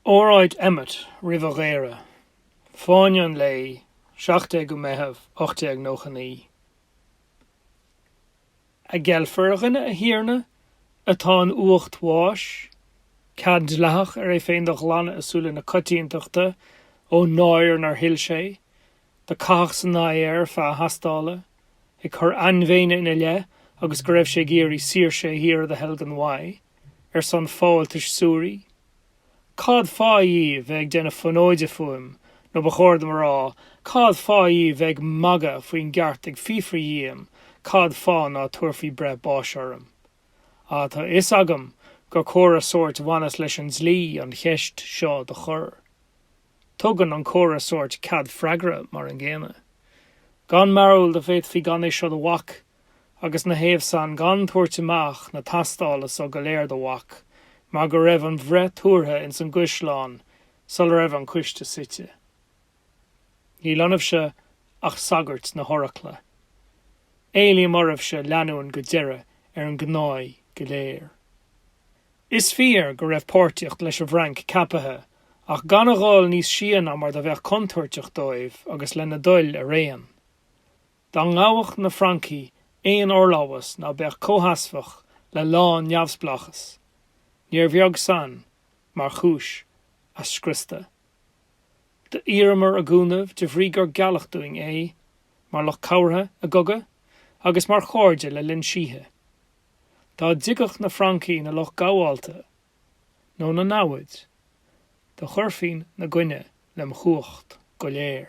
Óráid Emmet roimh a dhaoradh, Fáinne an Lae 17ú Meitheamh 1899. An gceilfear ar dhuine, a thiarna, atá in uacht bháis, cead dleathach ar é féin do ghlanadh i súile na coitiantachta ón náire nár thuill sé, do caitheadh san aghaidh air feadh a thástála, ag cur ainmhéine ina leith agus go raibh sé ag iarraidh saoirse a thíre do theilgean uaidh. ar son fáltais suaraigh? Cad fáth dhíbh bheith ag déanamh fonóide fúim nó ba chóir dom a rá cad fáth dhíbh bheith ag magadh faoin gceart ag fiafraí dhíom cad fáth ná tabharfaí breith báis orm? Ah tá fhios agam gur comhartha sóirt bhaineas leis an dlí an cheist seo do chur. Tugann an comhartha sóirt cead freagra mar an gcéanna. Gan mearbhall do féadfaí gan é seo do bhac agus 'na thaobh san gan tabhairt amach na tástála so go léir do bhac mar go raibh an bhreith tabhartha ins an gCaisleán sul raibh an coiste suite. Níl ionaibhse ach sagairt na horacla. Éilím oraibhse leanúin go deireadh ar an ngnáth go léir. Is fíor go raibh páirtíocht leis an bhFrainc ceapaithe ach gan a ghabháil níos sia ná mar do bheadh contúirteach dóibh agus lena dtoil araon. Dá ngabhadh na Francaigh aon fhorlámhas ná beadh comhsheasmhach le lán-neamhspleáchas, níor bheag san mar chúis a scriosta. D'iarramar a gcúnamh de bhrí gur gealladh dúinn é, mar lucht cabhartha i gcogadh agus mar chairde le linn síthe. Dá dtigeadh na Francaigh 'na lucht gabhálta nó 'na namhaid, do chuirfinn 'na gcoinne lem chumhacht go léir.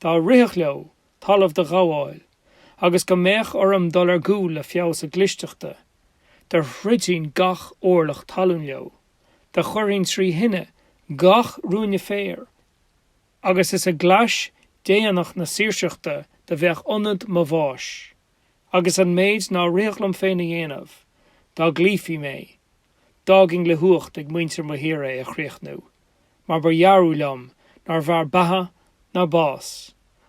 dá rithfeadh leo talamh do ghabháil agus go mbeadh orm dul ar gcúl le feabhas a gclisteachta, do throidfinn gach orlach talún leo, do chuirfinn trí thine gach ruainne féir agus is i gclais déanach na saoirseachta do bheadh ionad mo bháis agus an méid ná rithfeadh liom féin a dhéanamh, dá gcloífí mé, D'fhágfainn le huacht ag muintir mo thíre a chríochnú, mar ba dhearbh liom nárbh fhearr beatha ná bás,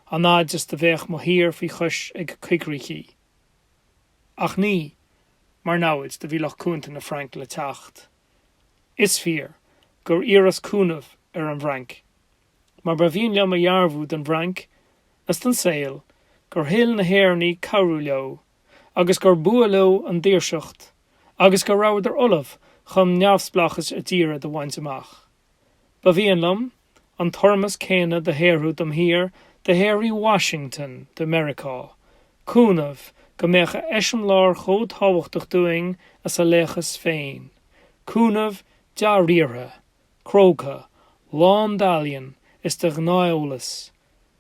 an fhad is do bheadh mo thír faoi chois ag coigríchí. Ach ní mar namhaid do bhí lucht cúnta na Frainc le teacht. Is fíor gur iarras cúnamh ar an bhFrainc, mar ba mhian liom a dhearbhú don bhFrainc 's don saol gur thuill na hÉireannaigh cabhrú leo, agus gur b'fhuath leo an daoirseacht agus go rabhadar ullamh chun neamhspleáchas a dtíre do bhaint amach. Ba mhian liom an t-urrús céanna do shaothrú dom thír do shaothraigh Washington do Meiriceá, cúnamh go mbeadh a eiseamláir chomh tábhachtach dúinn is a laochas féin, cúnamh dea-riartha, cróga, lán d'ealaíon is de ghnátheolas,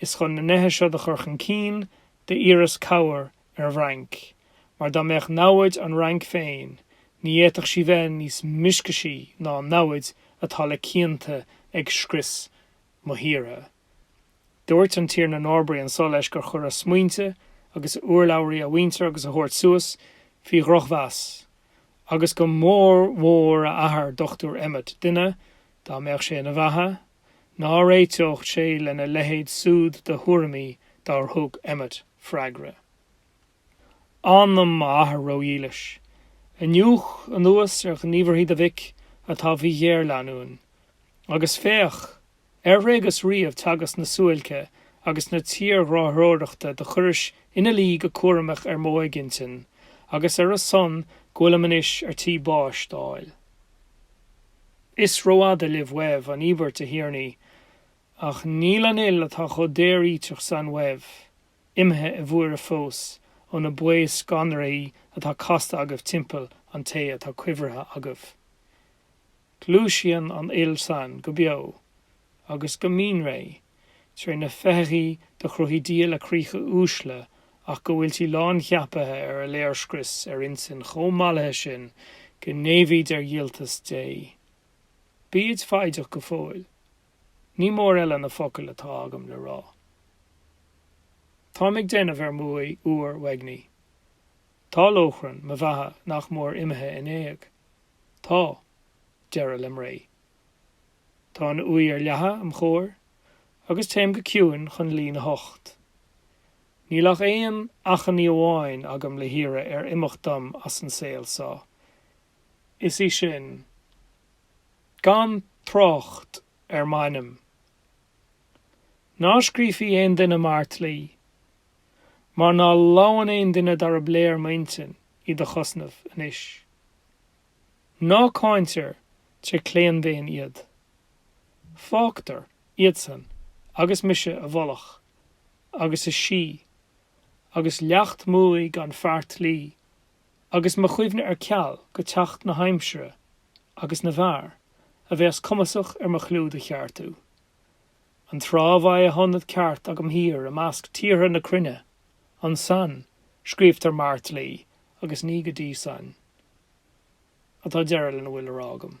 Is chun na neithe seo do chur chun cinn d'iarras cabhair ar an bhFrainc, mar dá mbeadh namhaid an Fhrainc féin ní fhéadfadh sí bheith níos mioscaisí ná an namhaid atá le cianta ag scrios mo thíre. Dúirt an Tiarna Norbury anso leis gur chuir a smaointe agus a urlabhraí a mhuintir agus a thabhairt suas faoi dhrochmheas, agus go mór mhór a athair, Dr. Emmet, duine, dá mbeadh sé ina bheatha, ná réiteodh sé lena leithéid súd de thuairimí dár thug Emmet freagra anam m'athar ró-dhílis, iniúch anuas ar ghníomharthaí do mhic atá faoi ghéarleanúin, agus féach, ar thréigeas riamh teagasc na suáilce agus na tírghráthróireachta do chuiris ina luí go cúramach ar m'óigintinn agus ar a son go bhfuilim anois ar tí báis d'fháil? Is rófhada libh uaibh an íobairt, a Thiarnaí, ach níl an fhuil atá chomh daoríteach san uaibh imithe i bhfuaire fós ó na baothscanraí atá casta agaibh timpeall an té atá cuibhrithe agaibh. Gluaiseann an fhuil san go beo agus go mín réidh. tré na féitheachaí do chruthaigh Dia le críocha uaisle ach go bhfuiltí lán-cheapaithe ar a léirscrios ar intinn chomh mallaithe sin go n-éimhíd ar dhíoltas Dé. Bíd foighdeach go fóill. Ní mór eile na focail atá agam le rá. Táim ag déanamh ar m'uaigh fhuar uaignigh. Tá lóchrann mo bheatha nach mór imithe in éag. Tá deireadh lem' ré. Tá an uaigh ar leathadh im' chomhair agus téim go ciúin chun luí ina hucht. Níl ach aon achainí amháin agam le hiarraidh ar imeacht dom as an saol so. Is í sin, gan trácht ar m'ainm. Ná scríofaí aon duine m'fheartlaoi. Mar ná lamhann aon duine darb léir m'intinn í do chosnamh anois. Ná cáintear tré claon daon iad. Fágtar iadsan agus mise i bhfolach agus i síth agus leacht m'uaighe gan feartlaoi agus mo chuimhne ar ceal go teacht na haimsire agus na bhfear a bheas cumasach ar mo chlú do cheartú. An tráth bheidh a hionad ceart agam thír i measc tíortha na cruinne, Ansan, scríobhtar m'fheartlaoi agus ní go dtí san atá deireadh lena bhfuil le rá agam.